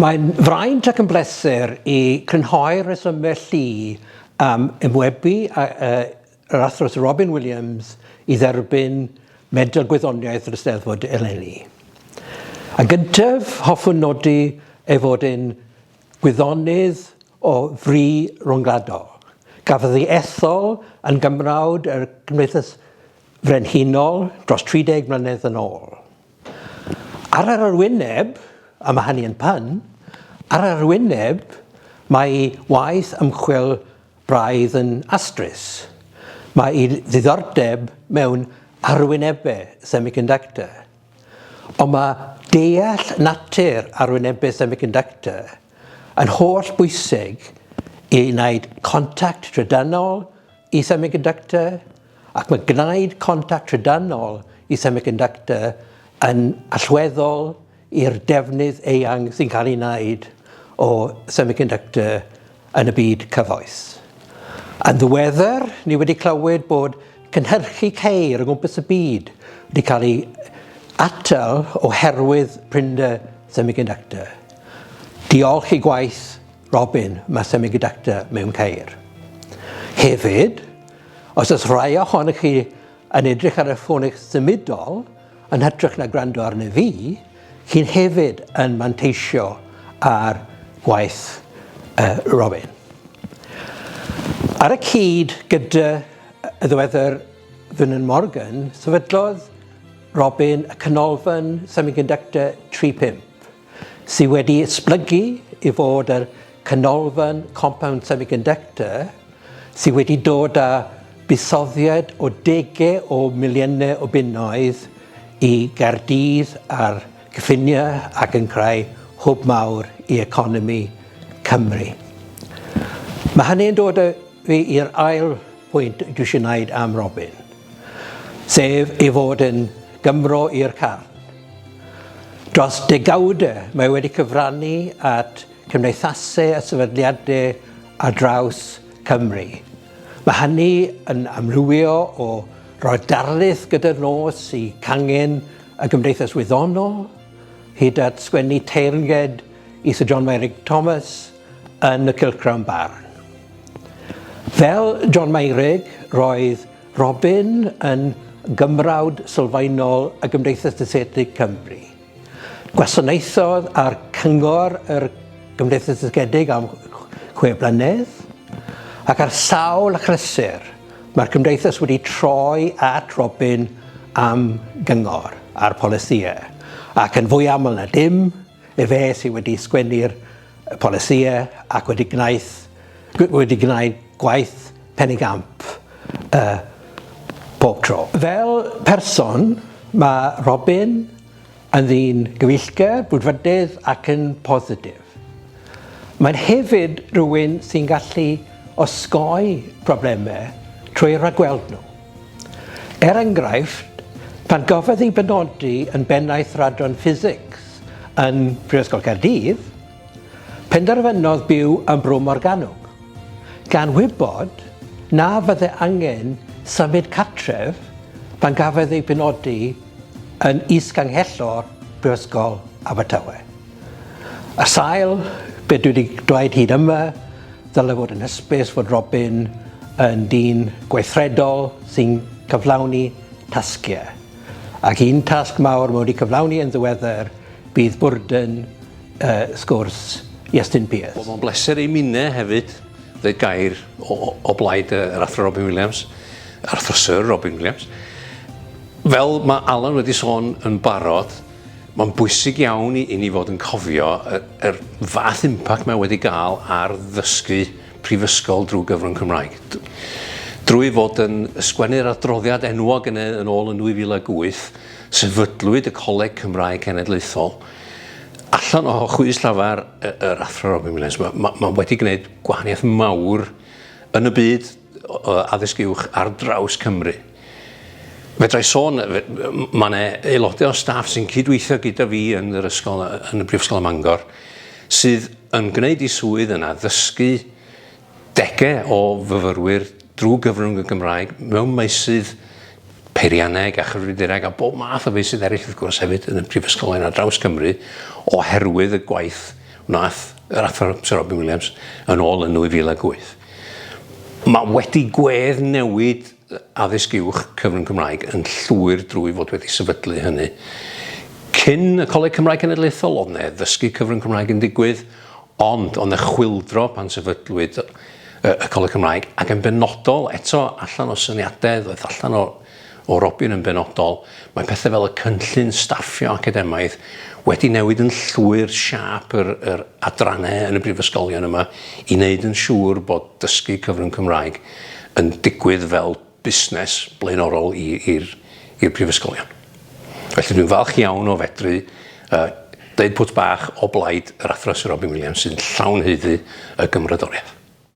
Mae'n fraint ac yn bleser i crynhoi rhesymau llu am ymwebu a, uh, yr athros Robin Williams i dderbyn Medal Gwyddoniaeth yr Ysteddfod eleni. A gyntaf, hoffwn nodi ei fod yn Gwyddonydd o fri ryngwladol. Cafodd ei ethol yn Gymrawd y Cymdeithas Frenhinol dros 30 mlynedd yn ôl. Ar yr arwyneb, a mae hynny yn pun, ar yr arwyneb mae ei waith ymchwil braidd yn astrus. Mae ei ddiddordeb mewn arwynebau semiconductor. Ond mae deall natur arwynebus semiconductor yn holl bwysig i wneud contact trydanol i semiconductor ac mae gwneud contact trydanol i semiconductor yn allweddol i'r defnydd eang sy'n cael ei wneud o semiconductor yn y byd cyfoes. Yn ddiweddar, ni wedi clywed bod cynhyrchu ceir o gwmpas y byd wedi cael ei atal oherwydd prinder semiconductor. Diolch i gwaith Robin, mae semiconductor mewn ceir. Hefyd, os oes rhai ohonych chi yn edrych ar y ffôn eich symudol, Yn hytrach na gwrando arni fi, chi'n hefyd yn manteisio ar waith uh, Robin. Ar y cyd gyda y ddwedr Fynan Morgan, sefydlodd Robin y canolfan semiconductor 35 sydd wedi esblygu i fod yr Canolfan Compound Semiconductor sydd wedi dod â buddsoddiad o dege o miliynau o bunnoedd i Gaerdydd a'r cyffiniau ac yn creu hwb mawr i economi Cymru. Mae hynny'n dod â fi i'r ail pwynt dwi eisiau wneud am Robin, sef ei fod yn Gymro i'r carn. Dros degawd, mae wedi cyfrannu at gymdeithasau a sefydliadau ar draws Cymru. Mae hynny yn amrywio o roi'r darlith gyda'r nos i cangen y gymdeithas wyddonol, hyd at sgwennu teyrnged i Syr John Meurig Thomas yn y Cylchgrawn Barn. Fel John Meurig, roedd Robin yn Gymrawd sylfaenol y Gymdeithas Dysgedig Cymru. Gwasanaethodd ar Cyngor yr Gymdeithas Dysgedig am chwe blynedd, ac ar sawl achlysur mae'r Gymdeithas wedi troi at Robin am gyngor ar polisïau, ac yn fwy aml na dim, Efe sydd wedi sgwennu'r polisïau ac wedi gwnaeth, wedi gwneud gwaith pen y gamp uh, bob tro. Fel person, mae Robin yn ddyn gyfeillgar, brwdfrydydd ac yn positif. Mae'n hefyd rhywun sy'n gallu osgoi problemau trwy ragweld nhw. Er enghraifft, pan gafodd ei benodi yn Bennaeth Radran Ffisics yn Prifysgol Caerdydd, penderfynodd byw yn Bro Morgannwg, gan wybod na fydde angen symud cartref pan gafodd ei benodi yn Is-Ganghellor Prifysgol Abertawe. Ar sail be' dwi 'di dweud hyd yma, Dylai fod yn hysbys fod Robin yn dyn gweithredol sy'n cyflawni tasgiau, ac un tasg mawr mae wedi cyflawni yn ddiweddar bydd bwrdwn y sgwrs Iestyn Pearce. Wel, mae'n bleser i minnau hefyd ddweud gair o, o, o blaid yr Athro Robin Williams, yr Athro Syr Robin Williams. Fel mae Alan wedi sôn yn barod, Mae'n bwysig iawn i ni fod yn cofio yr fath impact mae wedi gael ar ddysgu prifysgol drwy gyfrwng Cymraeg. Drwy fod yn ysgwennu'r adroddiad enwog yn yn ôl yn 2008, sefydlwyd y Coleg Cymraeg Cenedlaethol. Allan o chwys llafar yr Athro Robin Williams, mae, mae, mae wedi gwneud gwahaniaeth mawr yn y byd o addysg uwch ar draws Cymru. Fedra i sôn, mae yna aelodau o staff sy'n cydweithio gyda fi yn yr ysgol, yn y Brifysgol ym Mangor, sydd yn gwneud i swydd yna ddysgu degau o fyfyrwyr drwy gyfrwng y Gymraeg mewn meysydd peirianneg a chyfrifiadureg a bob math o feysydd eraill wrth gwrs hefyd yn y prifysgol yna draws Cymru oherwydd y gwaith wnaeth yr athro Sir Robin Williams yn ôl yn 2008. Mae wedi gwedd newid addysg uwch cyfrwng Cymraeg yn llwyr drwy fod wedi sefydlu hynny. Cyn y Coleg Cymraeg Cenedlaethol oedd 'ne ddysgu cyfrwng Cymraeg yn digwydd ond oedd 'ne chwyldro pan sefydlwyd y Coleg Cymraeg ac yn benodol eto allan o syniadau ddoeth allan o O Robin yn benodol, mae pethe fel y cynllun staffio academaidd wedi newid yn llwyr siâp yr yr adranne yn y brifysgolion yma i wneud yn siŵr bod dysgu cyfrwng Cymraeg yn digwydd fel busnes blaenorol i i'r i'r prifysgolion. Felly dwi'n falch iawn o fedru yy deud pwt bach o blaid yr Athro Syr Robin Williams sy'n llawn haeddu y gymrodoriaeth.